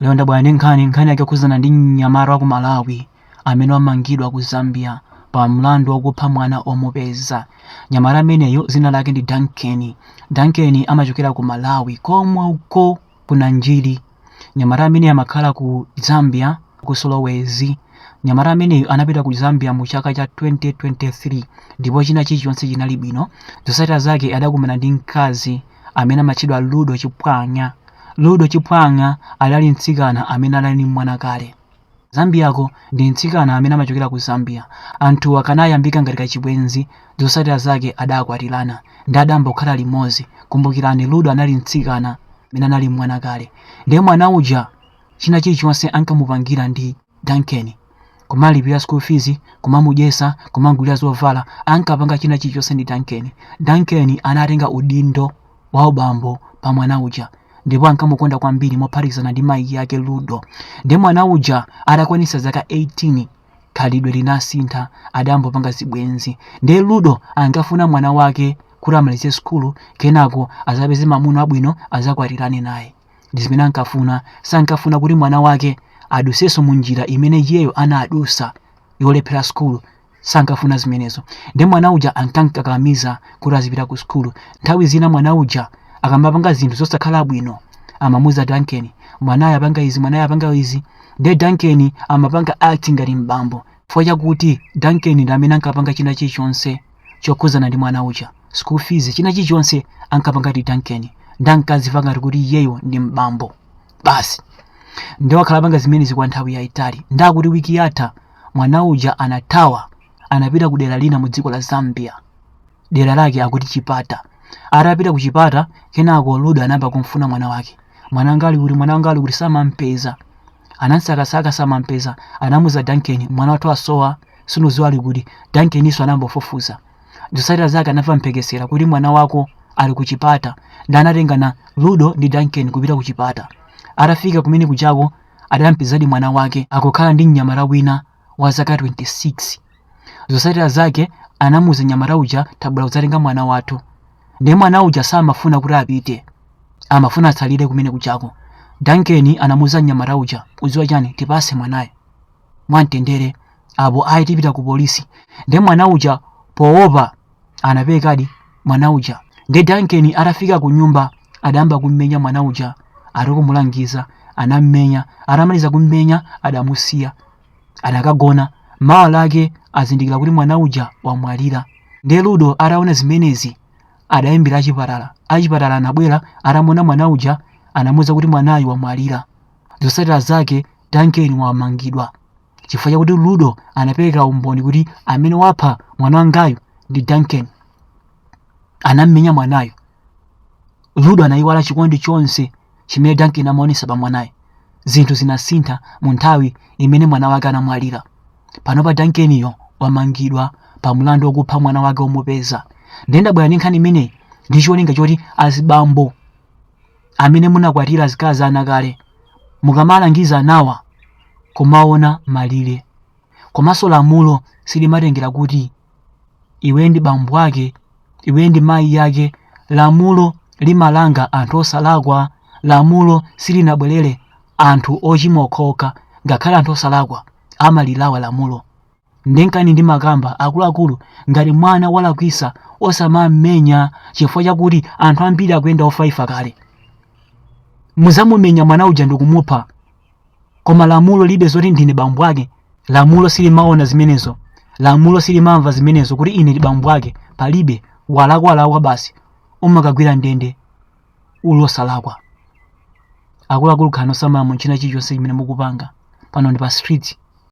Lero ndabwera ndi nkhani nkhani yake yokhuzana ndi mnyamata wa ku Malawi amene wamangidwa ku Zambia pa mlandu wakupha mwana omupeza. Mnyamata ameneyo dzina lake ndi Duncan. Duncan amachokera ku Malawi komwe uko ku Nanjiri. Mnyamata ameneyo amakhala ku Zambia ku Solwezi. Mnyamata ameneyo anapita ku Zambia mu chaka cha 2023 ndipo china chilichonse chinali bwino. Zotsatira zake adakumana ndi mkazi amene amatchedwa Ludo Chipwanya. Ludo Chipwanya adali mtsikana amene adali ndi mwana kale. Zambiyako ndi mtsikana amene amachokera ku Zambia. Anthuwa kanayambika ngati kachibwenzi, zotsatira zake adakwatirana ndi adayamba kukhala limodzi. Kumbukirani Ludo anali mtsikana amene anali ndi mwana kale. Ndiye mwana uja china chilichonse ankamupangira ndi Duncan. kumalipira school fees kumamudyesa kumamgulira zovala ankapanga china chilichonse ndi duncan duncan anatenga udindo wa ubambo pa mwana uja ndipo ankamukonda kwambiri mophatikizana ndi mayi yake ludo ndi mwana uja atakwanitsa zaka 18 khalidwe linasintha adayambopanga zibwenzi ndi ludo ankafuna mwana wake kuti amalize sukulu kenako azapeze mamuna wabwino azakwatirane naye ndi zimene ankafuna sankafuna kuti mwana wake adusenso mu njira imene iyeyo anadusa yolephera sukulu sankafuna zimenezo ndi mwana uja ankamkakamiza kuti azipita ku sukulu nthawi zina mwana uja akamapanga zinthu zosakhala bwino amamuza duncan mwanayo apanga izi mwanayo apanga izi nde duncan amapanga act ngati mbambo chifukwa chakuti duncan ndi amene ankapanga china chilichonse chokhudzana ndi mwana uja school fees china chilichonse ankapanga ndi duncan nde ankazimva ngati kuti iyeyo ndi mbambo basi nde wakhala apanga zimenezi kwa nthawi yayitali nde akuti wiki yatha mwana uja anathawa anapita ku dera lina mu dziko la zambia dera lake akuti chipata atapita ku chipata kenako ludo anayamba kumfuna mwana wake mwana wanga ali kuti mwana wanga ali kuti samampeza anamsakasaka samampeza anamuza duncan mwana wathu asowa sunuziwa ali kuti duncanso anambofufuza zosatira zake anamva mphekesera kuti mwana wako ali ku chipata ndi anatengana ludo ndi duncan kupita ku chipata atafika kumene kujako adampezadi mwana wake akukhala ndi mnyamata wina wa zaka 26 zosatira zake anamuza mnyamata uja tabwera kudzatenga mwana wathu ndiye mwana uja samafuna kuti apite amafuna atsalire kumene kujako duncan anamuza mnyamata uja uziwa chani tipase mwanayo mwamtendere apo ayi tipita ku polisi nde mwana uja poopa anapitadi mwana uja nde Duncan atafika ku nyumba adayamba kummenya mwana uja ati akumulangiza anammenya atamaliza kummenya adamusiya adakagona mawa lake azindikira kuti mwana uja wamwalira nde ludo ataona zimenezi adayimbira achipatala achipatala anabwera atamuona mwana uja anamuuza kuti mwanayu wamwalira zotsatira zake Duncan wamangidwa chifukwa chakuti Ludo anapereka umboni kuti amene wapha mwana wangayu ndi Duncan. Anam'menya mwanayo. Ludo anayiwala chikondi chonse chimene Duncan amaonesa pa mwanayo. Zinthu zinasintha mu nthawi imene mwana wake anamwalira. Panopa Duncaniyo wamangidwa pa mlandu wokupha mwana wake womupeza. Nde ndabwera ndi nkhani imeneyi ndi cholinga choti azibambo amene munakwatira akazi a ana kale mukamalangiza anawa kumaona malire komanso lamulo silimatengera kuti iwe ndi bambo ake iwe ndi mayi yake lamulo limalanga anthu osalakwa lamulo silinabwerere anthu ochimwa okhaokha ngakhale anthu osalakwa amalirawa lamulo Nde nkani ndimakamba akuluakulu ngati mwana walakwisa osamam'menya chifukwa chakuti anthu ambiri akuyenda ofaifa kale. Muzamumenya mwana uja ndikumupha koma lamulo lilibe zoti ndine bambo ake lamulo silimaona zimenezo lamulo silimamva zimenezo kuti ine ndi bambo ake palibe walakwa walakwa basi umakagwira ndende uli osalakwa akuluakulu khalani osamala mu china chilichonse chimene mukupanga pano ndi pa street